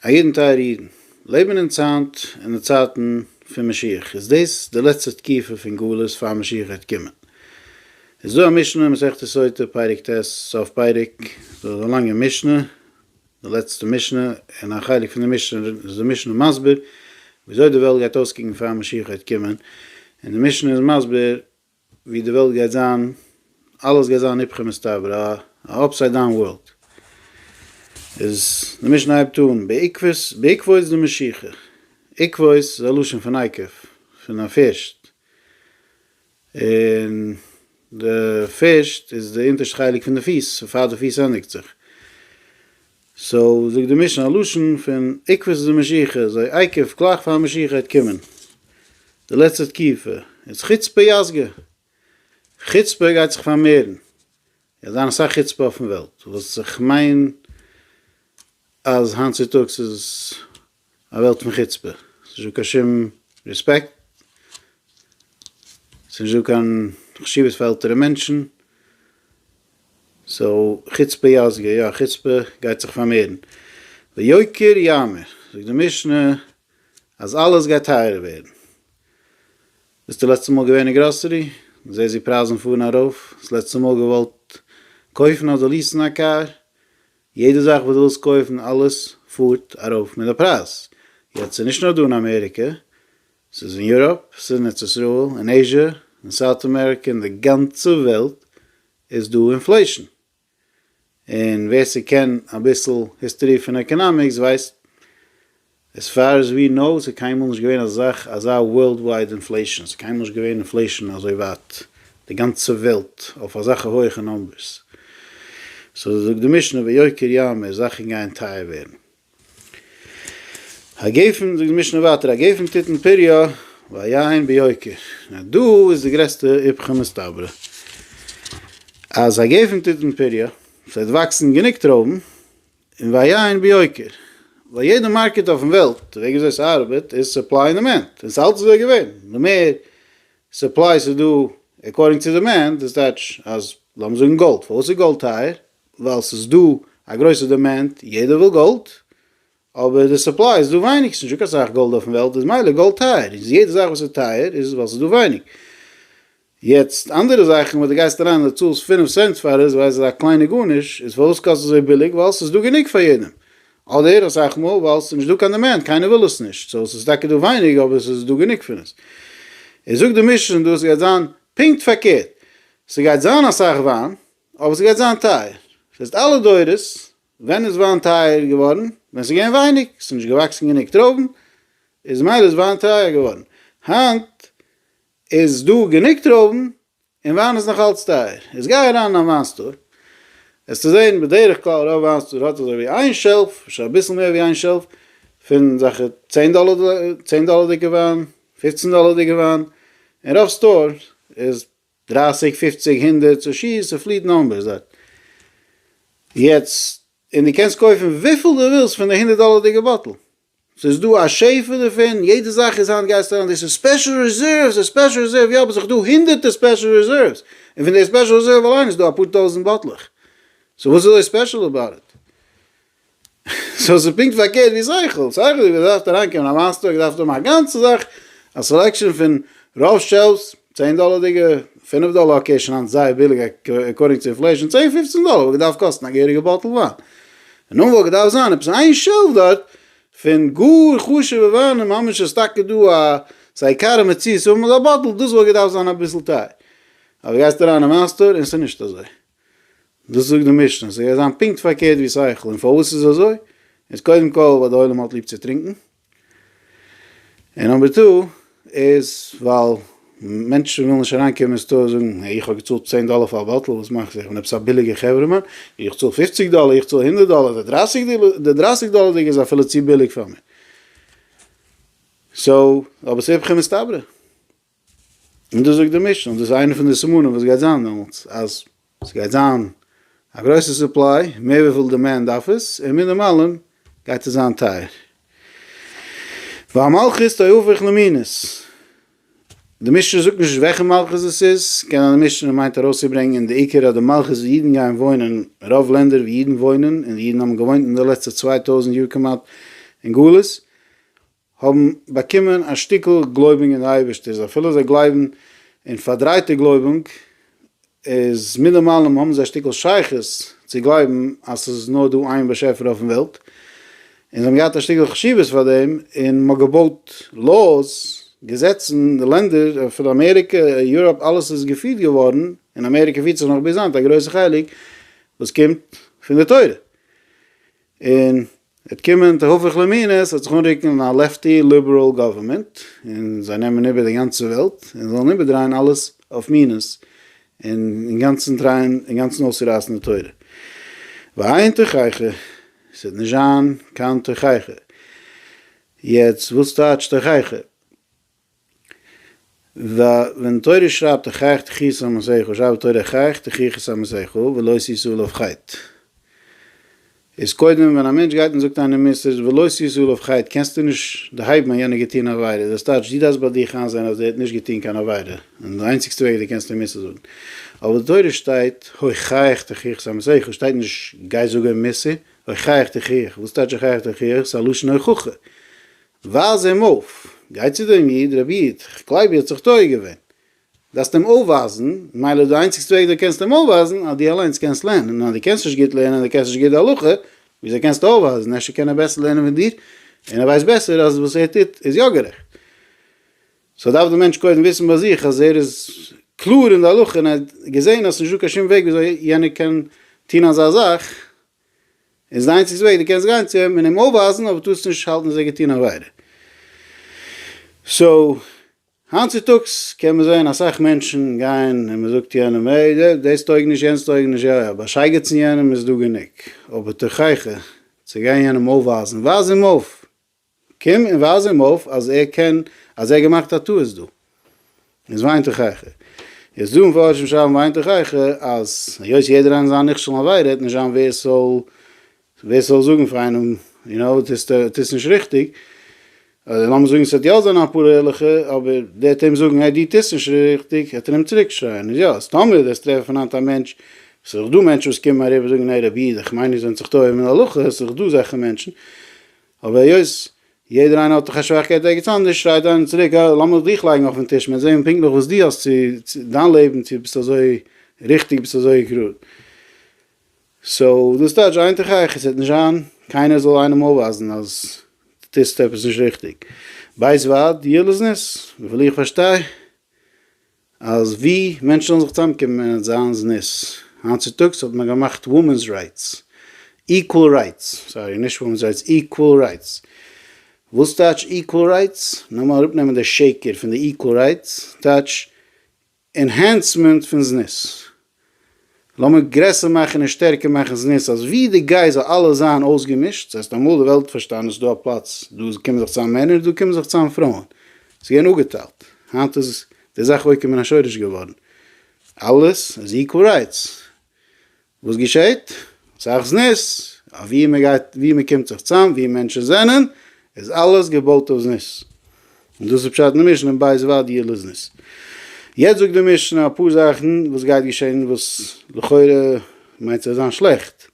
א יעדן טייערע אידן, לעבן אונז היינט אין די צייטן פון משיח, איז דאס די לעצטע תקופה פון גלות פאר משיח וועט קומען. איז דא א משנה אין מסכת סוטה פרק ט' סוף פרק, דאס איז א לאנגע משנה, די לעצטע משנה, און א חלק פון די משנה איז די משנה מסביר ווי אזוי די וועלט גייט אויסקוקן פאר משיח וועט קומען, און די משנה איז מסביר ווי די וועלט גייט זיין, אלעס גייט זיין איפכא מסתברא, א אפסייד דאון ווארלד, איז די משנה הייבט אן בעקבות בעקבות דמשיחא, עקבות איז א לשון פון עקב, פון א פירשט, און די פירשט איז די אונטערשטע חלק פון די פיס, פאר די פיס ענדיגט זיך. סאו זאגט די משנה א לשון פון עקבות איז א משיכה, זיי עיכב גלייך פאר משיכה העט קומען, די לעצטע תקופה איז חוצפה יסגא, חוצפה גייט זיך פארמערן, גייט זיין אסאך חוצפה אויפן וועלט, וואס איך מיין אז היינט צוטאגס איז א וועלט פון חוצפה, ס'נישט דא קיין שום רעספעקט, ס'נישט דא קיין חשיבות פאר עלטערע מענטשן, סאו חוצפה יסגא, יא חוצפה גייט זיך פארמערן, ויוקר יאמר, זאגט די משנה אז אלעס גייט טייערער ווערן, ביסט די לעצטע מאל געווען אין גראסערי? זעסט ווי פרייזן פארן ארויף? האסט לעצטע מאל געוואלט קויפן אדער ליעסן א קאר? יעדע זאך וואס דו ווילסט קויפן אלעס פארט ארויף מיט די פרייז, יעצט ס'איז נישט נאר דא אין אמעריקע, ס'איז אין יוראפ, ס'איז אין ארץ ישראל, אין עיזשע, אין סאוט אמעריקע, אין די גאנצע וועלט איז דא אינפלעישן, און ווער ס'קען אביסל היסטארי פון עקאנאמיקס ווייסט עז פאר עז ווי נאו איז קיינמאל נישט געווען אזא זאך אזא ווארלד ווייד אינפלעישאן, ס'איז קיינמאל נישט געווען אינפלעישאן אזוי ווייט די גאנצע וועלט אויף אזאלכע הויעכע נאמבערס, סאו זאגט די משנה ויוקר יאמר זאכן גייען טייער ווערן. הגפן זאגט די משנה ווייטער הגפן תתן פריה והיין ביוקר, נאר דא איז די גרעסטע איפכא מסתברא אז הגפן תתן פריה, ס'וועט וואקסן גענוג טרויבן, און והיה אין ביוקר. ווייל יעדע מארקעט אויפן וועלט, די וועג וויאזוי ס'ארבעט איז סופליי און דימענד, און ס'אלץ אזוי געווען, די מער סופליי ס'איז דא עקארדינג צו דימענד, דאס טייטש אז לאמיר זאגן גאלד, פארוואס איז גאלד טייער? ווייל ס'איז דא א גרויסע דימענד, יעדער וויל גאלד, אבער די סופליי איז דא ווייניג, ס'איז נישט דא קיין סאך גאלד אויפן וועלט, איז מילא גאלד טייער, איז יעדע זאך וואס איז טייער איז ווייל ס'איז דא ווייניג. יעצט אנדערע זאכן וואס די גייסט אריין די צאלסט פֿינף סענט פאר עס ווייל עס איז א קליינע גארניש איז פארוואס קאסט אזוי ביליג ווייל עס איז דא גענוג פאר יעדעם אדער אסאך מאל ווייל עס איז נישט דא קיין דימענד קיינער וויל עס נישט סאו עס איז טאקע דא ווייניג אבער עס איז דא גענוג פון עס איז זאגט די משנה דא עס גייט זיין פונקט פארקערט ס'גייט זיין אסאך וויין אבער ס'גייט זיין טייער זעסט אלע דורות ווען איז וויין טייער געווארן ווען ס'איז געווען ווייניג ס'איז נישט געוואקסן גענוג טרויבן איז מילא איז וויין טייער געווארן היינט איז דא גענוג טרויבן און וויין איז נאך אלץ טייער. איז גיי אריין אין א וויין סטאר וועסטו זען בדרך כלל רוב וויין סטאר האט אזוי ווי איין שעלף, אפשר אביסל מער ווי איין שעלף, פון זאכע צען דאלער צען דאלערדיגע וויין, פופצן דאלערדיגע וויין, און רוב סטאר איז דרייסיג פופציג הונדערט צו שי ס'איז פליט נאמבערס דארט. יעצט און דו קענסט קויפן וויפיל דו ווילסט פון די הונדערט דאלערדיגע באטל. ס'איז דא א שפע דערפון, יעדע זאך איז היינט גייסטו אריין דאס איז ספעשל ריזערוו, ס'איז ספעשל ריזערוו, יא, באט זיך דא הונדערטער ספעשל ריזערוו, און פון די ספעשל ריזערוו אליין איז דא אפאר טויזענט באטלעך, סאו וואס איז אזוי ספעשל אבאוט איט? סאו ס'איז פונקט פארקערט ווי שכל, שכל איז געדארפט אריינקומען א מאסטער האט געדארפט האבן א גאנצע זאך א סעלעקשאן פון רוב שעלווס, צען דאלער דיגע? פינף דאלער אקעי שוין היינט זייער ביליג עקארדינג צו אינפלעישאן, צען פופצן דאלער וואלט געדארפט קאסטן א געהעריגע באטל וויין, און נאך וואלט געדארפט זיין עפעס איין שעלף דארט פון גאר חשובע וויינען ממש אז ס'טאקע דא א ס'עיקר מציאות האבן אזא באטל, דאס וואלט געדארפט זיין אביסל טייער, אבער גייסט אריין אין וויין סטאר און ס'נישט אזוי, דאס זאגט די משנה, ס'גייט זיין פונקט פארקערט ווי שכל, און פארוואס איז אזוי? איז קודם כל ווייל די עולם האט ליב צו טרינקן, און נאמבער טו איז ווייל מענטשן ווילן נישט אריינקומען אין סטאר זאגן העי איך האב געצאלט צען דאלער פאר א באטל וואס מאכט זיך? כ'בין עפעס א ביליגער חברה'מאן? איך צאל פופציג דאלער איך צאל הונדערט דאלער די דרייסיג די דרייסיג דאלערדיגע איז אפילו צו ביליג פאר מיר סאו אבער ס'איפכא מסתברא. און דאס זאגט די משנה, און דאס איז איינע פון די סימנים וואס גייט זיין דעמאלטס, אז עס גייט זיין א גרויסע סופליי, מער וויפיל דימענד דארף עס, און מינימאלען גייט עס זיין טייער. והמלכות תהפוך למינות, די משנה זאגט נישט וועלכע מלכות עס איז, קען זיין די משנה מיינט ארויסצוברענגען די עיקר אז די מלכות ווי אידן גייען וואוינען, רוב לענדער ווי אידן וואוינען, און אידן האבן געוואוינט אין די לעצטע צוויי טויזנט יאר כמעט אין גלות, האבן באקומען א שטיקל גלויבונג אין די אייבערשטערס אפילו זיי גלייבן אין פארדרייטע גלויבונג איז מינעמאלעם האבן זיי א שטיקל שייכות צו גלייבן אז ס'איז נאר דא איין באשעפער אויפן וועלט און זיי האבן געהאט א שטיקל חשיבות פאר דעם און מ'האט געבויט לאוס, געזעצן, די לענדער אפילו אמעריקע, יוראפ אלעס איז געפירט געווארן און אמעריקע פירט זיך נאך ביז היינט א גרויסע חלק וואס קומט פון די תורה. און עט קומען תהפוך למינות עט זיך אנרוקן א לעפטי ליבעראל גאווערמענט און זיי נעמען איבער די גאנצע וועלט און זאלן איבערדרייען אלעס אויף מינות און אינגאנצן טרייען אינגאנצן אויסצורייסן די תורה ואין תוכחה ס'עט נישט זיין קיין תוכחה יעצט וואס טייטש תוכחה? ו ווען תורה שרייבט אחייך תחי' סאמעסייכו שרייבט תורה אחייך תחי' כסאמעסייכו ולא שישו לב חית איז קודם ווען א מענטש גייט און זאגט איינעם מוסר ולא שישו לב חית קענסטו נישט דערהייבן אז יענער האט געטון עבירה דאס טייטש דו דארפסט ביי דיך איינזעהן אז דער האט נישט געטון קיין עבירה און די איינציגסטע וועג דו קענסט אים מוסר זאגן אבער די תורה שטייט אחייך תחי' כסאמעסייכו שטייט נישט גיי זאג אים מוסר אחייך תחי' וואס טייטש אחייך תחי' ס'איז א לשון הוכחה ווייז אים אויף, גיי צו דעם איד, רבי איד, כ'גלייב איר האט זיך טועה געווען, דארפסט אים אויפווייזן, מילא איז די איינציגסטע וועג דו קענסט אים אויפווייזן אז דו אליינס קענסט לערנען, און אז דו קענסט נישט גוט לערנען און דו קענסט נישט גוט די הלכה, וויאזוי קענסטו אויפווייזן, אפשר קען ער בעסער לערנען ווי דיר, און ער ווייסט בעסער אז וואס ער טוט איז יא גערעכט. סאו דארף דער מענטש קודם וויסן ביי זיך אז ער איז קלאר אין די הלכה און ער האט געזען אז ס'איז נישטא קיין שום וועג וויאזוי יענער קען טון אזא זאך, איז דיינס איז וועג, דו קענסט גיין צו אים און אים אויפווייזן אבער טארסט נישט האלטן אז ער האט געטון עבירה. סאו, היינט צוטאגס קען מען זען אסאך מענטשן גייען און מ'זאגט יענעם עי די דאס טויג נישט יענץ טויג נישט יא יא באשייגעצן יענעם איז דא גענוג אבער תוכחה צו גיין יענעם אויפווייזן ווייז אים אויף! קום און ווייז אים אויף אז ער קען, אז ער האט געמאכט א טעות דא. יעצט וויינט איך אייך. יעצט דא מפרשים שרייבן וויינט איך אייך אז היות יעדער איינער זיין נכשל און עבירה האט נישט זיין ווער ס'זאל ווער ס'זאל זאגן פאר איינעם יו נאו טוסט טוסט נישט ריכטיג, אדער לאמיר זאגן ס'וועט יא זיין אפאר ערליכע אבער דער וועט אים זאגן העי דו טוסט נישט ריכטיג וועט ער אים צוריק שרייען איז יא אז טאמער וועסט טרעפן פון היינט א מענטש ס'דא מענטשן וואס קומען אריבער זאגן העי רבי איך מיין איר זענט זיך טועה אין הלכה ס'דא אזעלכע מענטשן. אבער היות יעדער איינער האט דאך א שוואכקייט וועגן עפעס אנדערש, שרייט איינער צוריק, אה, לאמיר דיך לייגן אויפן טיש, מיר זעהן פונקטליך וואס דו האסט צו, דיין לעבן, צו ביסט אזוי ריכטיג, ביסט אזוי גראד. סאו, דאס טייטש, איין תוך איך, עס וועט נישט זיין קיינער זאל איינעם אויפווייזן אז דו טוסט עפעס נישט ריכטיג. בית ועד, דיעל איז ניס, וויפיל איך פארשטיי, אז ווי מענטשן זאלן זיך צוזאמקומען און זיין זנות, היינט צוטאגס האט מען געמאכט וואמענס רייטס, איקוועל רייטס, סארי נישט וואמענס רייטס, איקוועל רייטס, וואס טייטש איקוועל רייטס, נאמאר אראפנעמען די שקר פון די איקוועל רייטס, טייטש ענהענסמענט פון זנות. לאמיר גרעסער מאכן און שטערקער מאכן זנות אז ווי די גיי זאל אלעס זיין אויסגעמישט, סאיז ערשט אמאל די וועלט פארשטאנען אז סאיז דא א פלאץ דא קומען זיך צאם מענער און דא קומען זיך צאם פרויען, סאיז געווען אפגעטיילט, היינט איז די זאך עוקר מן השורש געווארן, אלעס איז איקוואל רייטס, וואס געשעהט? אסאך זנות, אויף ווי מען גייט ווי מען קומט זיך צאם ווי מענטשן זענען איז אלעס געבויט אויף זנות. און דאס איז פשט אין די משנה אין בית ועד יהיה לזנות. יעצט זאגט די משנה אפאר זאכן וואס גייט געשען וואס לכאורה מיינט זיך זיין שלעכט.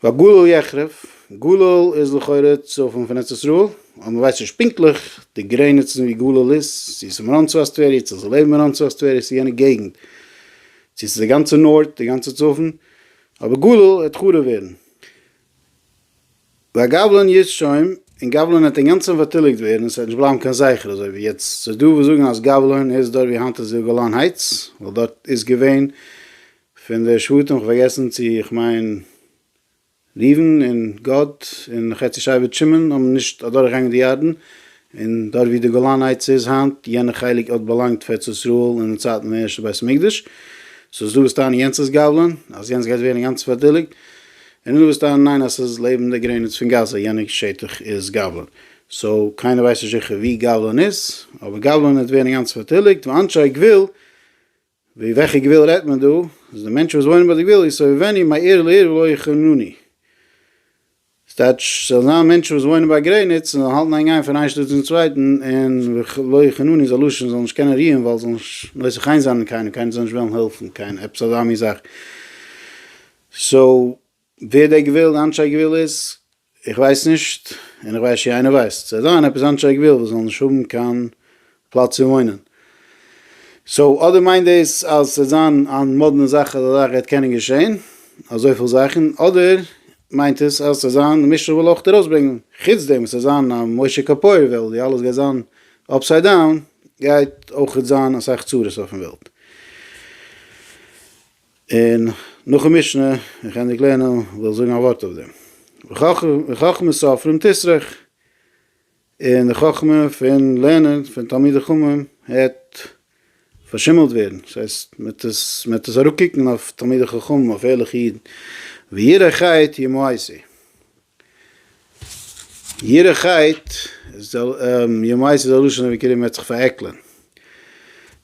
והגולל יחרב, גולל איז לכאורה צפון פון ארץ ישראל, אבער מען ווייסט נישט פונקטליך די גרעניצן ווי גולל איז, צו עס איז מרום צפת טבריה, צו עס איז לעבן מרום צפת טבריה, צו יענע געגנט, צו עס איז די גאנצע נארט, די גאנצע צפון, אבער גולל העט חרוב ווערן. והגבלן יצ שוים, און גבלן וועט אינגאנצן פארטיליגט ווערן, עס וועט נישט בלייבן קיין זכר אזוי ווי יעצט, ס'איז דא וואס זאגן אז גבלן איז דארט ווי היינט איז די גולן הייטס, ווייל דארט איז געווען פון די שבטים, כ'פארגעסן צו איך מיין ראובן און גד און חצי שבט שמעון האבן נישט אדורכגעגאנגען די ירדן, און דארט ווי די גולן הייטס איז היינט, יענע חלק האט באלאנגט פארץ ישראל אין די צייטן פון ערשטע בית המקדש, סאו ס'דא וואס טענה'ן יענץ איז גבלון, אז יענץ גייט ווערן אינגאנצן פארטיליגט, און נאך וואס טענה'ן ניין אז ס'איז לעבן די גרעניץ פון גאזא יענע שטח איז גבלון, סאו קיינער ווייסט נישט זיכער ווי גבלון איז, אבער גבלון וועט ווערן אינגאנצן פארטיליגט, ואנשי גבול ווי וועלכע גבול רעדט מען דא? אז די מענטשן וואס וואוינען ביי די גבול איז סובבני מעיר לעיר ולא יחונוני. ס'טייטש ס'זאל זיין מענטשן וואס וואוינען ביי גרעניץ און זאלן האלטן איין גיין פון איין שטאט צום צווייטן און ולא יחונוני איז א לשון זאלן נישט קענען רוען ווייל זאלן נישט נושא חן זיין אין קיינעם קיינער זאל נישט וועלן העלפן קיין עפעס אזא מין זאך. סאו ווער דער גבול די אנשי גבול איז איך ווייס נישט, און איך ווייס צ'י איינער ווייסט, ס'וועט זיין עפעס אנדערש איך וויל וואס זאל נישט האבן קיין פלאץ צו וואוינען. סאו אדער מיינט דאס אז ס'וועט זיין א מאדנע זאך אז אזא זאך גייט קענען געשען, אזויפיל זאכן, אדער מיינט עס אז ס'וועט זיין די משטרה וויל אויך ארויסברענגן, חוץ דעם עס וועט זיין א משה קאפויער וועלט ווי אלעס גייט זיין אפסייד דאון, גייט אויכעט זיין אסאך צרות אויפן וועלט. און נאכן משנה און כענדיג לערנען וויל זאגן א ווארט אויף דעם. וחכמת סופרים תסרח, און די חכמה פון לערנען פון תלמידי חכמים העט פארשימעלט ווערן, דאס הייסט מ'עט עס מ'עט עס אראפקוקן אויף תלמידי חכמים אויף ערליכע אידן, וירא חטא ימאסי. גיעריכייט איז א י מייסד איז א לשון ווי קרום מ'העט זיך פארעקלען.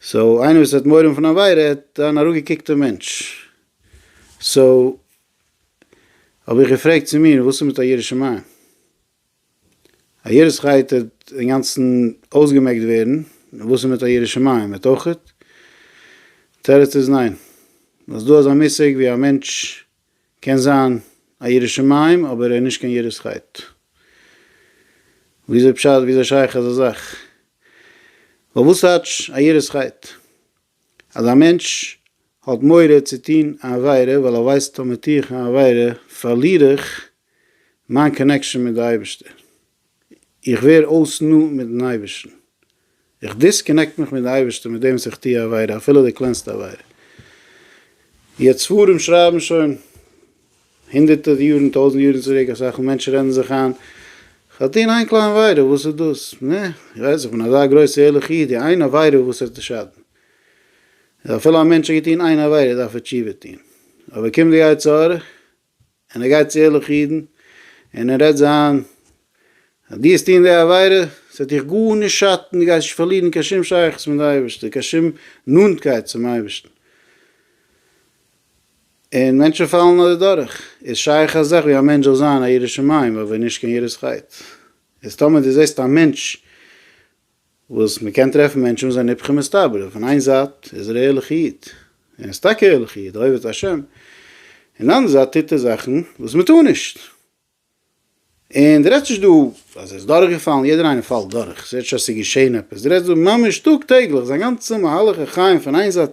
סאו איינער וואס האט מורא פון עבירה האט אן אראפגעקוקטע מענטש. סאו האב איך געפרעגט צו מיר וואס איז מיט א ירא שמים? א גיעריכייט האט אינגאנצן אויסגעמעקט ווערן, וואס איז מיט א ירא שמים? האט אויכעט? תירוץ איז ניין. אז דא אזא מושג ווי א מענטש קען זיין א ירא שמים אבער ער איז נישט קיין יראת חטא. וויאזוי פשט וויאזוי שייך אזא זאך? ווייל וואס טייטש א יראת חטא? אז א מענטש האט מורא צו טון א עבירה ווייל ער ווייסט אז מיר טו איך א עבירה פארליר איך מיין קאנעקשאן מיט די אייבערשטער. איך ווער אויס נאנט מיטן אייבערשטן, איך דיסקאנעקט מיך מיט די אייבערשטער מיט דעם וואס איך טו א עבירה, אפילו די קלענסטע עבירה. יעצט ספרים שרייבן שוין הונדערטער יארן, טויזנט יארן צוריק, אסאך מענטשן רעדן זיך איין, איך האב געטון איין קליין עבירה, וואס איז דאס? נע, איך ווייס איך בין אזא גרויסער ערליכער איד, די איין עבירה וואס וועט שאטן? איז אפילו א מענטש האט געטון איין עבירה דארף ער תשובה טון, אבער קומט די יצר הרע, און ער גייט צו ערליכע אידן און ער רעדט זיי איין אז דו האסט טוען די עבירה, עס וועט דיך גארנישט שאטן, דו גייסט נישט פארלירן קיין שום שייכות מיט די אייבערשטער, קיין שום נאנטקייט צום אייבערשטן. און מענטשן פאלן אדורך. איז שייך א זאך ווי א מענטש זאל זיין א ירא שמים אבער נישט קיין יראת חטא? איז טאמער דו זעסט א מענטש וואס מען קען טרעפן מענטשן וואס זענען היפכא מסתברא, פון איין זייט איז ער א ערליכע איד, און איז טאקע א ערליכע איד, אוהב את ה', און די אנדערע זייט טוט ער זאכן וואס מען טאר נישט, און די רעדסט נישט דא אז ער איז דורך געפאלן, יעדער איינער פאלט דורך, ס'רעדט נישט אז ס'איז געשען עפעס, די רעדסט דא ממש טאג טעגליך, זיין גאנצע מהלך החיים פון איין זייט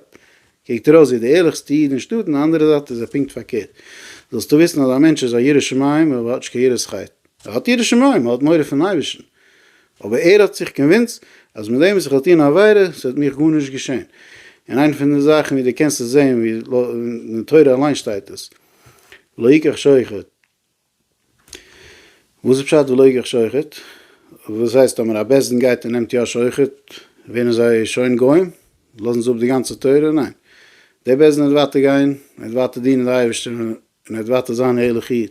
קוקט ארויס ווי די ערליכסטע איד אין שטאט, און די אנדערע זייט איז ער פונקט פארקערט. זאלסטו וויסן אז א מענטש איז א ירא שמים אבער האט נישט קיין יראת חטא. ער האט יראת שמים, ער האט מורא פון אייבערשטן, אבער ער האט זיך קאנווינסט אז מיט דעם וואס איך וועל טון א עבירה, ס'וועט מיך גארנישט געשען. און איינע פון די זאכן ווי דו קענסט עס זען, ווי אין די תורה אליין שטייט עס, לא יקח שוחד, וואס איז פשט ולא יגח שוחט? וואס הייסט טאמער א בית דין גייט און נעמט יא שוחט, ווערן זיי שוין גוים? לאזן זיי אפ די גאנצע תורה? ניין. דער בית דין וועט ווייטער גיין, ער וועט ווייטער דינען די אייבערשטער און ער וועט ווייטער זיין א ערליכע איד.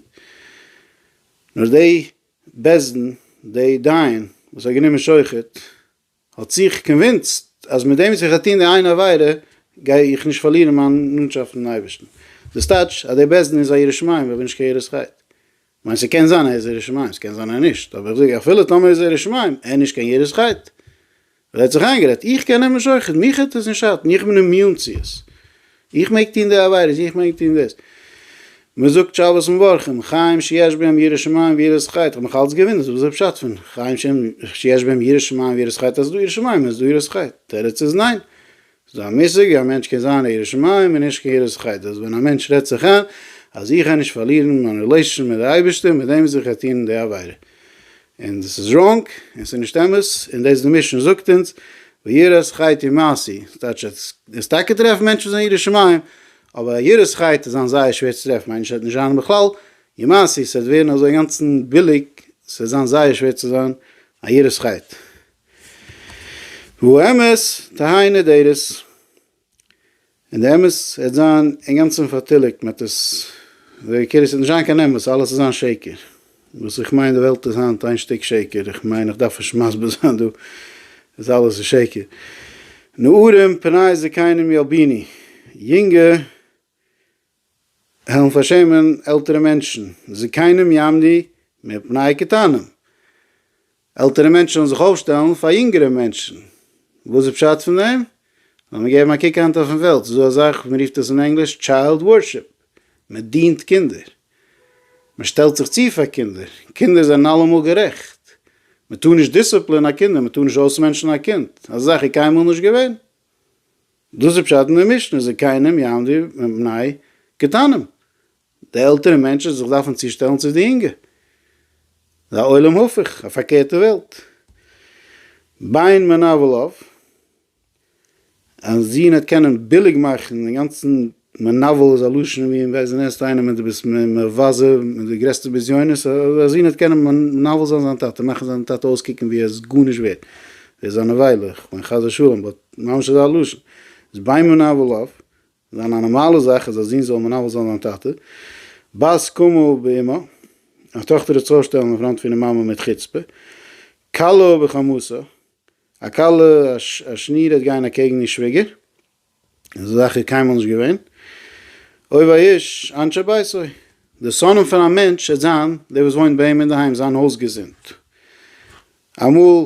נאר די בית דין, די דיין וואס האט גענומען שוחט, האט זיך קאנווינסט אז מיט דעם וואס איך האב געטון די איין עבירה גיי איך נישט פארלירן מיין נאנטשאפט מיטן אייבערשטן, דאס טייטש אז דער בית דין איז א ירא שמים ווען נישט קיין יראת חטא. כ'מיין ס'קען זיין ער איז ירא שמים, ס'קען זיין ער נישט, אבער איך זאג אפילו טאמער איז ער ירא שמים, ער נישט קיין יראת חטא, ווייל ער האט זיך איינגערעדט איך קען אים נישט שוחט'ן, מיך האט עס נישט שאטן, איך בין אימיון צו עס, איך מעג טון די עבירות, איך מעג טון דאס, מען זאגט שבת מברכים, חיים שיש בהם יראת שמים ויראת חטא, כ'האב מיך אלץ געוואונדערט וואס איז דער פשט פון חיים שהם שיש בהם יראת שמים ויראת חטא, אז ס'איז דא יראת שמים און עס איז דא יראת חטא, תירוץ איז ניין, ס'איז דא א מושג ווי א מענטש קען זיין א ירא שמים און נישט קיין יראת חטא, דאס איז ווען א מענטש רעדט זיך איין אז איך גיי נישט פארלירן מיין רילעישאנשיפ מיט די אייבערשטער מיט דעם וואס איך גיי טון די עבירה, און דאס איז ראנג, און ס'איז נישט אמת, און דאס די מישן זאגט אונז, ויראת חית היא מעשי, ס'טייטש אז ס'איז טאקע טרעפן מענטשן זענען יראי שמים, אבער יראת חית איז זיין זייער שווער צו טרעפן, איינער שטייט נישט זיין בכלל, היא מעשי, ס'וועט ווערן אזוי אינגאנצן ביליג, ס'וועט זיין זייער שווער צו זיין א יראת חית. והוא אמת, תהא נהדרת. און די אמת העט זיין אינגאנצען פארטיליגט מען האט עס ווער קעיר עס העט נישט זיין קיין אמת אלעס איז זיין שקר וואס איך מיין די וועלט איז היינט איין שטיק שקר איך מיין איך דארף נישט מסביר זיין דא אז אלעס איז שקר נערים פני זקינים ילביני יונגע העלן פארשעמען עלטערע מענטשן, זקנים יעמדי מפני קטנים, עלטערע מענטשן זאלן זיך אויפשטעלן פאר יונגערע מענטשן, וואס איז פשט פון דעם? לאמיר געבן א קוק היינט אויפן וועלט, ס'איז דא אזאך, מען רופט עס אין ענגליש טשיילד ווארשיפ, מען דינט קינדער, מען שטעלט זיך צו פאר קינדער, קינדער זענען אלעמאל גערעכט, מען טאר נישט דיסציפלין א קינד, מען טאר נישט אויסמענטשן א קינד, אזא זאך איז קיינמאל נישט געווען. דאס איז פשט אין די משנה, זקנים יעמדו מפני קטנים, די עלטערע מענטשן זאלן זיך דארפן צושטעלן צו די יונגע, ס'איז א עולם הפוך, א פארקערטע וועלט. ביין מנוול אויף, אז יענער וועט קענען ביליג מאכן דעם גאנצן מנוול איז א לשון ווי אין וועסט די נענסט איינעם און די ביסט מבזה מיט די גרעסטע בזיונות א זון וועט קענען מנוול זיין זיין טאטע מאכן זיין טאטע אויסקוקן ווי ער איז גארנישט ווערט ער איז א נבילה איך מיין חס ושלום באט ממש אזא לשון איז ביי מנוול אויף זיין א נארמאלע זאך אז א זון זאל מנוול זיין זיין טאטע בת קומה באמה א טאכטער זיך צושטעלן אין פראנט פונעם מאמע מיט חוצפה כלה בחמותה א כלה א שניר ער וועט גיין אקעגן איר שוויגער. אזא זאך איז קיינמאל נישט געווען. אוהב האיש אנשי ביתו. די שונאים פון א מענטש וועט זיין דער וואס וואוינט ביי אים אינדערהיים, זיין הויז געזונט. אמאל,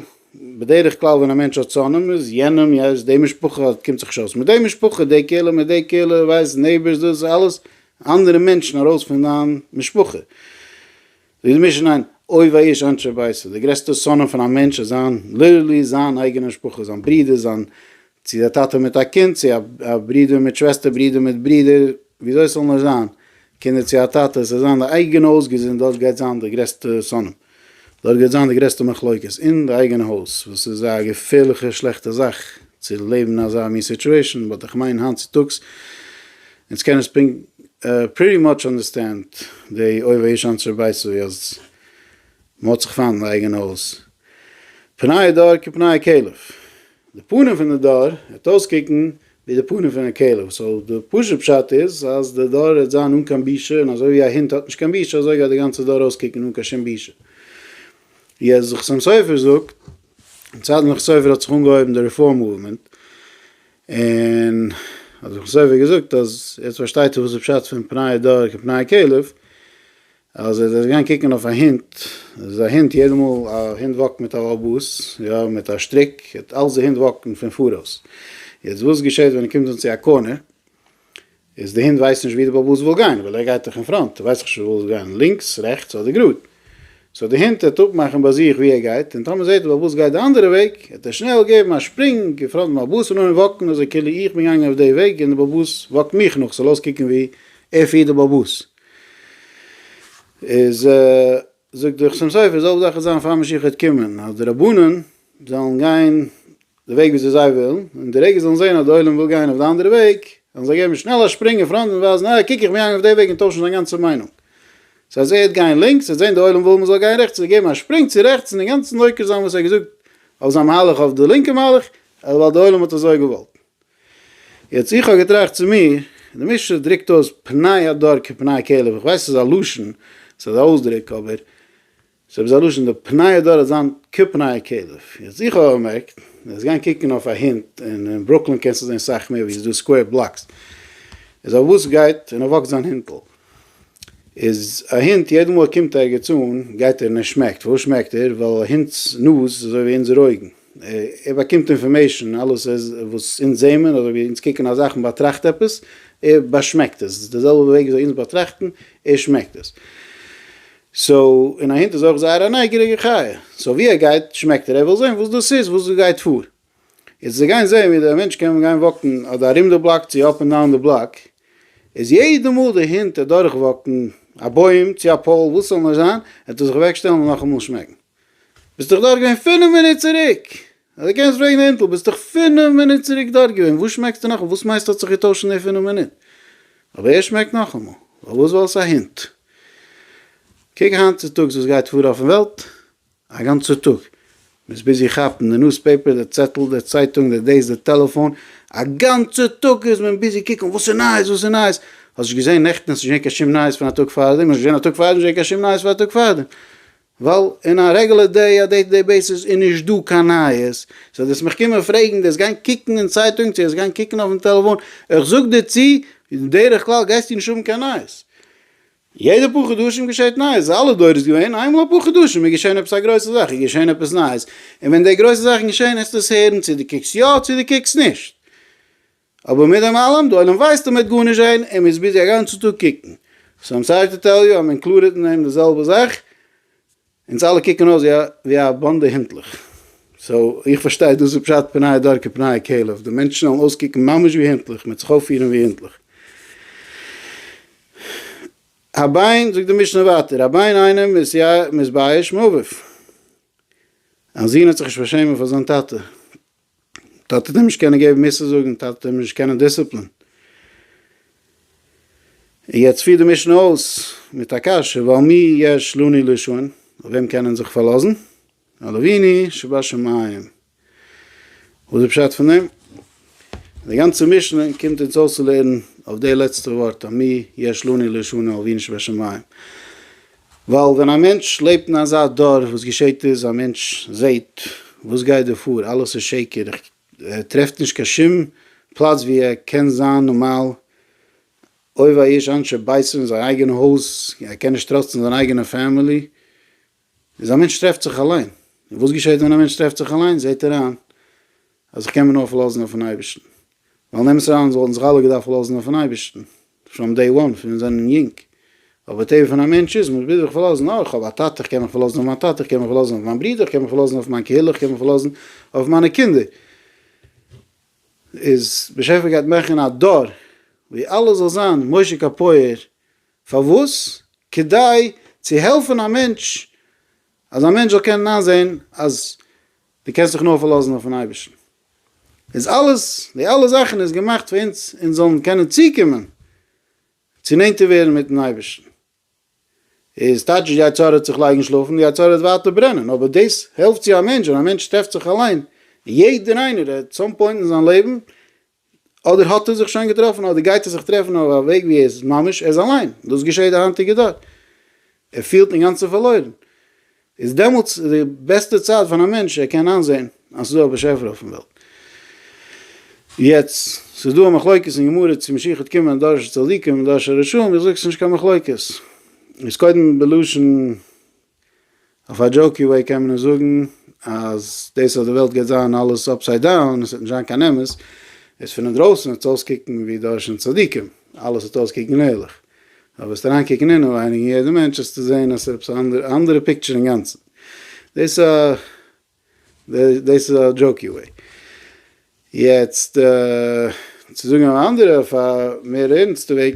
בדרך כלל ווען א מענטש האט שונאים איז יענעם, יענעם, די משפחה האט קומט זיך נישט אויס מיט די משפחה, די קהילה מיט די קהילה, ווייסט, נעיבערס, דאס איז אלעס אנדערע מענטשן ארויס פון דיין משפחה. זיי מישן איין אוי וויי איש אנשי ביתו, די גרעסטע שונאים פון א מענטש איז זיין, ליטערלי זיין אייגענע משפחה, זיין ברודער, זיין, צו א טאטע מיט א קינד, צו א ברודער מיט שוועסטער, ברודער מיט ברודער, וויאזוי עס זאל נאר זיין, קינדער צו א טאטע, עס זאל זיין די אייגענע הויז געזונט, דארט גייט זיין די גרעסטע שונאים, דארט גייט זיין די גרעסטע מחלוקת, אין די אייגענע הויז, וואס איז א געפערליכע שלעכטע זאך צו לעבן אין אזא מין סיטועשאן, באט איך מיין היינט צוטאגס אונז קענען עס פונקט פריטי מאטש אנדערסטענד די אויב א איש אנצער ווייסט ווי אז מ'האט זיך פיינט אין די אייגענע הויז. פניי דור כפניי כלב. די פנים פון די דור העט אויסקוקן ווי די פנים פון א כלב. סאו די פשוט פשט איז אז די דור העט זיין אן קיין בושה און אזוי ווי א הונט האט נישט קיין בושה אזוי גייט די גאנצע דור אויסקוקן אן קיין שום בושה. יעצט די חתם סופר זאגט, אין צייטן פון חתם סופר האט זיך אנגעהויבן די רעפארם מאוומענט און האט זיך מסופק געזאגט אז יעצט פארשטייט ער וואס איז פשט פון פני דור כפני כלב, אז ער איז געגאנגען קוקן אויף א הונט, איז א הונט יעדע מאל א הונט וואקט מיט א באס, יא מיט א שטריק, אלץ די הונט וואקן פון פאראויס, יעצט וואס געשעט ווען ער קומט אן צו א קארנער, איז די הינט ווייסט נישט ווי די באל באס וויל גיין וויל ער גייט דאך אין פראנט ווייסט איך שוין וואו עס גיין לינקס רעכטס אדער גראד סאו די הינט העט אפמאכן ביי זיך ווי ער גייט און טאמער זעט די באל באס גייט די אנדערע וועג העט ער שנעל געבן א שפרינג אין פראנט פון באל באס און אנהויבן וואקן אזוי כאילו איך בין געגאנגען אויף די וועג און די באל באס וואקט מיך נאך ס'זאל אויסקוקן ווי ער פירט די באל באס איז זאגט דער חתם סופר, זאל דאך זיין פאר משיח העט קומען אז די רבנים זאלן גיין די וועג וויאזוי זיי ווילן, און די רגע זיי זאלן זען אז די עולם וויל גיין אויף די אנדערע וועג, וועלן זיי געבן שנעל א שפרינג אין פראנט און ווייזן אה קוק איך בין געגאנגען אויף די וועג און טוישן זיין גאנצע מיינונג. סא אז ער העט גיין לינקס, ער זען די עולם וויל מ'זאל גיין רעכטס, וועט ער געבן א שפרינג צו רעכטס און אינגאנצן עוקר זיין וואס ער האט געזאגט אויף זיין מהלך אויף די לינקע מהלך, ווייל די עולם האט אזוי געוואלט. יעצט איך האב געטראכט צו מיר, די משנה דרוקט אויס פני הדור כפני כלב, איך ווייס ס'איז א לשון, ס'איז א אויסדרוק, אבער ס'איז עפעס א לשון, די פני הדור וועט זיין כפני כלב, יעצט איך האב באמערקט, וועסט גיין קוקן אויף א הינט, און אין ברוקלין קענסטו זען סאך מער ווי ס'איז דא סקווער בלאקס, איז אויף וואס גייט און וואקט זיין הינטל? איז א הונט יעדע מאל ער קומט ערגעץ אן גייט ער און ער שמעקט, פארוואס שמעקט ער? ווייל א הונט'ס נאז איז אזוי ווי אונזער אויגן, ער באקומט אינפארמעישן, אלעס וואס אונז זעהן מען אדער ווי אונז קוקן א זאך, מען באטראכט עפעס, ער באשמעקט עס, די זעלבע וועג וויאזוי אונז באטראכטן, ער שמעקט עס. סאו, און א הונט איז אויך זייער א נייגעריגע חיה, סאו ווי ער גייט שמעקט ער, ער וויל זעהן וואס דאס איז, וואס דא גייט פאר, יעצט זיי גייען זעהן ווי דער מענטש קען גיין וואקן אדער ארום די בלאק צו אפ ענד דאון די בלאק, איז יעדע מאל די הינט אדורך וואקן א בוים צו א פאול וואס ס'זאל נאר זיין, וועט ער זיך אוועק שטעלן און נאכאמאל שמעקן. ביסט דאך דארט געווען פינף מינוט צוריק! אדער קענסט פרעגן די הינטל, ביסט דאך פינף מינוט צוריק דארט געווען, וואס שמעקסטו נאכאמאל? וואס מיינסטו האט זיך געטוישט אין די פינף מינוט? אבער ער שמעקט נאכאמאל, פארוואס? ווייל עס איז א הינט. קוק היינט צוטאגס וואס גייט פאר אויפן וועלט, א גאנצע טאג, מען איז ביזי כאפן די נוז פעיפער, די צעטל, די צייטונג, די דעיס, די טעלעפאון, א גאנצע טאג איז מען ביזי קוקן וואס איז נייעס, וואס איז נייעס, האסט נישט געזען נעכטן האסט נישט געזען קיין שום נייעס פון א טאג פארדעם, האסט נישט געזען א טאג פארדעם האסט נישט געזען קיין שום נייעס פון א טאג פארדעם, ווייל אין א רעגולער דעי, א דעי טו דעי בעיסיס איז נישט דא קיין נייעס, זאל דאס מיך קומען פרעגן, דאס גיין קוקן אין צייטונג, צו דאס גיין קוקן אויפן טעלעפאון, איך זאג דיר צו, בדרך כלל גייסטו נישט האבן קיין נייעס, יעדע פאר חדשים געשעט נייעס, אלע דורות געווען, איינמאל אפאר חדשים איז געשען עפעס א גרויסע זאך, איז געשען עפעס נייעס, און ווען די גרויסע זאכן געשען העסטו עס הערן צו דו קוקסט יא צו דו קוקסט נישט, אבער מיט דעם אלעם, די עולם ווייסט אז מען וועט גארנישט זען און מען איז ביזי א גאנצע טאג קוקן, סאו איים סארי טו טעל יו אז מען קלארעט אין דעם די זעלבע זאך, אונז אלע קוקן אויס ווי א באנדע הינטלעך. סאו איך פארשטיי דאס איז פשט פניי דור כפניי כלב, די מענטשן זאלן אויסקוקן ממש ווי הינטלעך, מ'עט זיך אויפפירן ווי הינטלעך. א ביין, זאגט די משנה ווייטער, א ביין איינעם איז מתבייש מאביו. א זון האט זיך נישט פארשעמען פאר זיין טאטע. טאטע טוט אים נישט קענען געבן מוסר זאגן, טאטע טוט אים נישט קענען דיסציפלין. און יעצט פירט די משנה אויס מיט א קשיא, ועל מי יש לנו לישון, אויף וועם קען מען זיך פארלאזן? על אבינו שבשמים. וואס איז פשט פון דעם? די גאנצע משנה קומט אונז אויסצולערנען אויף די לעצטע ווארט, על מי יש לנו לישון, על אבינו שבשמים. ווייל ווען א מענטש לעבט אין אזא דור וואס געשעהט איז א מענטש זעהט וואס גייט דא פאר אלעס איז שקר ער טרעפט נישט קיין שום פלאץ ווי ער קען זיין נארמאל אוי וויי איש אנשי ביתו אין זיין אייגענע הויז ער קען נישט טראסטן זיין אייגענע פעמילי איז א מענטש טרעפט זיך אליין און וואס געשעהט ווען א מענטש טרעפט זיך אליין זעהט ער איין אז איך קען מיר נאר פארלאזן אויפן אייבערשטן ווייל נעם עס אריין זאלן זיך אלע געדארפט פארלאזן אויפן אייבערשטן פראם דעי וואן פון מיר זענען יונג, אבער טבע פון א מענטש איז מ'ביז זיך פארלאזן אויך, כ'האב א טאטע כ'קען מיך פארלאזן אויף מיין טאטע כ'קען מיך פארלאזן אויף מיין ברודער כ'קען מיך פארלאזן אויף מיין קהילה כ'קען מיך פארלאזן אויף מיינע קינדער, איז באשעפער גייט מאכן א דור ווי אלעס זאל זיין משה קאפויער, פארוואס? כדי צו העלפן א מענטש אז א מענטש זאל קענען איינזעהן אז דו קענסט דיך נאר פארלאזן אויפן אייבערשטן. איז אלעס, די אלע זאכן איז געמאכט פאר אונז, אונז זאלן קענען צוקומען צו נענטער ווערן מיטן אייבערשטן. איז טייטש די יצה ר האט זיך לייגן שלאפן, די יצה ר וועט ווייטער ברענען, אבער דאס העלפט צו א מענטש, ווען א מענטש טרעפט זיך אליין, יעדער איינער, ער האט סאם פוינט אין זיין לעבן אדער האט ער זיך שוין געטראפן אדער גייט ער זיך טרעפן אויף א וועג ווי ער איז ממש ער איז אליין, דאס געשעהט די היינטיגע דור, ער פילט אינגאנצן פארלוירן, איז דעמאלטס די בעסטע צייט פאר א מענטש ער קען איינזעהן אז ס'איז דא א באשעפער אויפן וועלט. יעצט, ס'איז דא א מחלוקת אין גמרא צו משיח וועט קומען אין דור של צדיקים אין דור של רשעים, איך זאג ס'איז נישט קיין מחלוקת, איז קודם בלשון. אויף א דזשאוקי וועי קען מען עס זאגן אז דאס אז די וועלט גייט זיין אלעס אפסייד דאון און עס וועט נישט זיין קיין אמת איז פון אינדרויסן וועט עס אויסקוקן ווי דורשן צדיקים, אלעס וועט אויסקוקן ערליך, אבער וועסטו אריינקוקן אינעווייניג אין יעדע מענטש וועסטו זען אז עס איז עפעס א אנדערע פיקטשער אינגאנצן. דאס איז א דאס איז א דזשאוקי וועי. יעצט צו זאגן אן אנדערע אויף א מער ערנסטע וועג.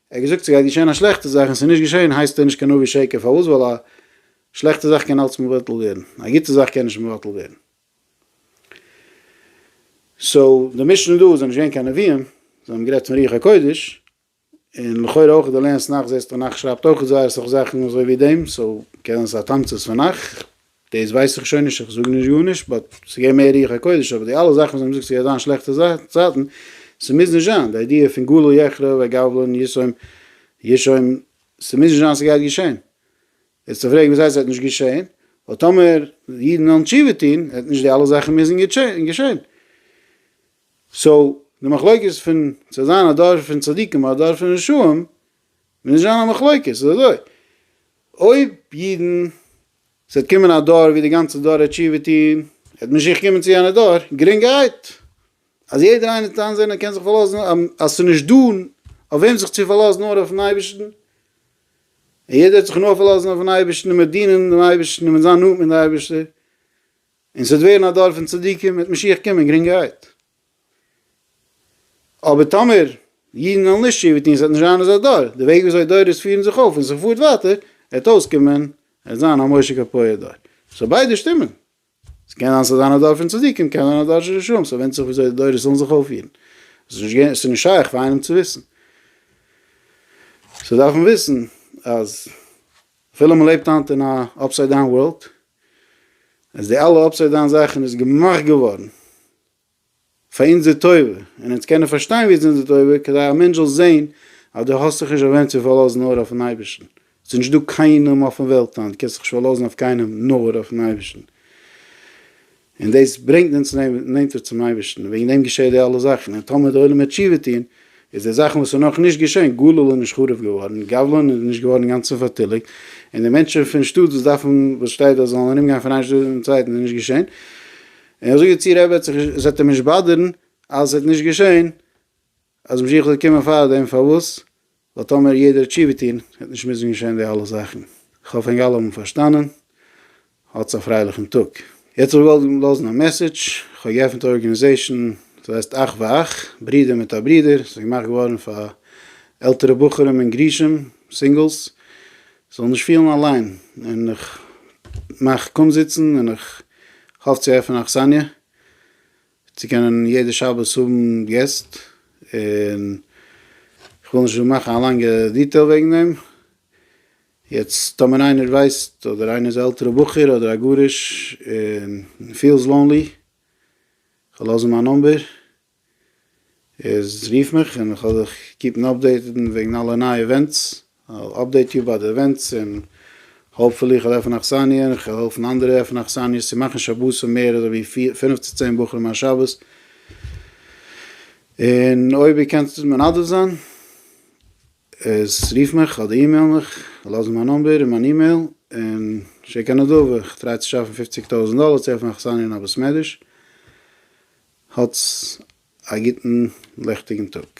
ער האט געזאגט ס'גייט געשען א שלעכטע זאך און ס'איז נישט געשען הייסט ער נישט קיין נביא שקר פארוואס ווייל א שלעכטע זאך קען אלץ מבטל ווערן א גוטע זאך קען נישט מבטל ווערן סאו די משנה דא זענען נישט געווען קיין נביאים זיי האבן גערעדט פון רוח הקודש און לכאורה אויך די לענסט נאך זעסטו נאך שרייבט אויך זייער סאך זאכן אזוי ווי דעם סאו קען זיין ס'איז א תמצית פון נאך. דאס ווייס איך שוין נישט, איך זאג נישט גארנישט, באט ס'געבט מער רוח הקודש, אבער די אלע זאכן וואס זיי האבן געזאגט ס'גייט זיין שלעכטע צייטן, ס'מוז נישט זיין, די איידיע פון גלו יחרב וגבלן ישום ישום, ס'מוז נישט זיין ס'גייט געשען, איז צו פרעגן וואס הייסט ס'וועט נישט געשען, ווייל טאמער אידן וועלן תשובה טון וועט נישט די אלע זאכן מוזן געשען. סאו, די מחלוקת פון ס'וועט זיין א דור פון צדיקים אדער א דור פון רשעים, מוז נישט זיין א מחלוקת, ס'איז אזוי, אויב אידן ס'וועט קומען א דור ווי די גאנצע דור העט תשובה טון, העט משיח קומען צו יענע דור, גרינגערהייט, אז יעדער איינער וועט איינזען ער קען זיך פארלאזן, אז ס'איז נישט דא אויף וועם זיך צו פארלאזן נאר אויפן אייבערשטן, און יעדער וועט זיך נאר פארלאזן אויפן אייבערשטן און מען וועט דינען דעם אייבערשטן און מען וועט זיין נאנט מיט די אייבערשטער, און ס'וועט ווערן א דור פון צדיקים, העט משיח קומען גרינגערהייט. אבער טאמער אידן וועלן נישט תשובה טון, עס וועט נישט זיין אזא דור, די וועג וויאזוי דורות פירן זיך אויף און זיך פארט ווייטער, וועט אויסקומען עס זיין א משה קאפויער דור. סאו ביידע שטימען. ס'קען זיין ס'זאל זיין א דור פון צדיקים, קען זיין א דור של רשעים, ס'ווענדט זיך וויאזוי די דורות וועלן זיך אויפפירן. ס'איז נישט שייך פאר איינעם צו וויסן. ס'דארף מען וויסן אז אפילו מען לעבט היינט אין א אפסייד דאון ווארלד, אז די אלע אפסייד דאון זאכן איז געמאכט געווארן, פאר אונזער טובה, און אונז קענען פארשטיין ווי עס איז אונזער טובה, כדי א מענטש זאל זען אז דו האסט זיך נישט אויף וועם צו פארלאזן נאר אויפן אייבערשטן, עס איז נישט דא קיינעם אויפן וועלט היינט, דו קענסט זיך נישט פארלאזן אויף קיינעם נאר אויפן אייבערשטן, און דאס ברענגט אונז נענטער צום אייבערשטן, און וועגן דעם געשעט די אלע זאכן, און טאמער די עולם וועט תשובה טון, איז די זאכן וואס איז נאך נישט געשען, גליל איז נישט חרוב געווארן, גבלון איז נישט געווארן אינגאנצן פארטיליגט, און די מענטשן פון שטאט וואס דארפן, וואס שטייט אז זיי זאלן ארום גיין פון איין שטאט אין די צווייטן איז נישט געשען, און איך זאג יעצט צו ר' וועט זיך נישט, עס וועט אים נישט באדערן אז עס וועט נישט געשען אז משיח זאל קומען פארדעם, פארוואס? ווייל טאמער יעדער האט תשובה טון וועט נישט מוזן געשען די אלע זאכן. איך האף ענק אלע האבן פארשטאנען. האטס א פרייליכן טאג. יעצט האב איך געוואלט לאזן א מעסעדזש, איך האב געעפנט א ארגענעזעישן וואס הייסט אח ואח, ברודער מיט א ברודער, עס איז געמאכט געווארן פאר עלטערע בחורים און גרושים, סינגלס, זאל נישט פילן אליין, און איך מאך קומזיצן און איך האף צו עפענען אכסניא צו קענען יעדע שבת האבן געסט, און איך וויל נישט דא מאכן א לאנגע דיטעיל וועגן דעם, יעצט טאמער איינער ווייסט אדער איינער איז א עלטערע בחור אדער א גרוש און פילס לאנלי, כ'וועל לאזן מיין נאמבער. איז רוף מיך און כ'וועל דיך קיפן אפדעיטעד וועגן אלע נייע עווענטס, כ'וועל אפדעיט יו ביי די עווענטס און האופפולי כ'וועל עפענען אכסניא און כ'וועל העלפן אנדערע עפענען אכסניות צו מאכן שבתים מער אזוי ווי פיר פינף צו צען בחורים א שבת, און אויב איר קענט מנדב זיין. איז רוף מיך אדער אימעיל מיך, לאז מיין נומבער און מיין אימעיל און שיק א נדבה, איך טריי צו שאפן פופציג טויזנט דאלער צו העלפן אכסניא אין א בית מדרש, האטס א גוטן ליכטיגן טאג.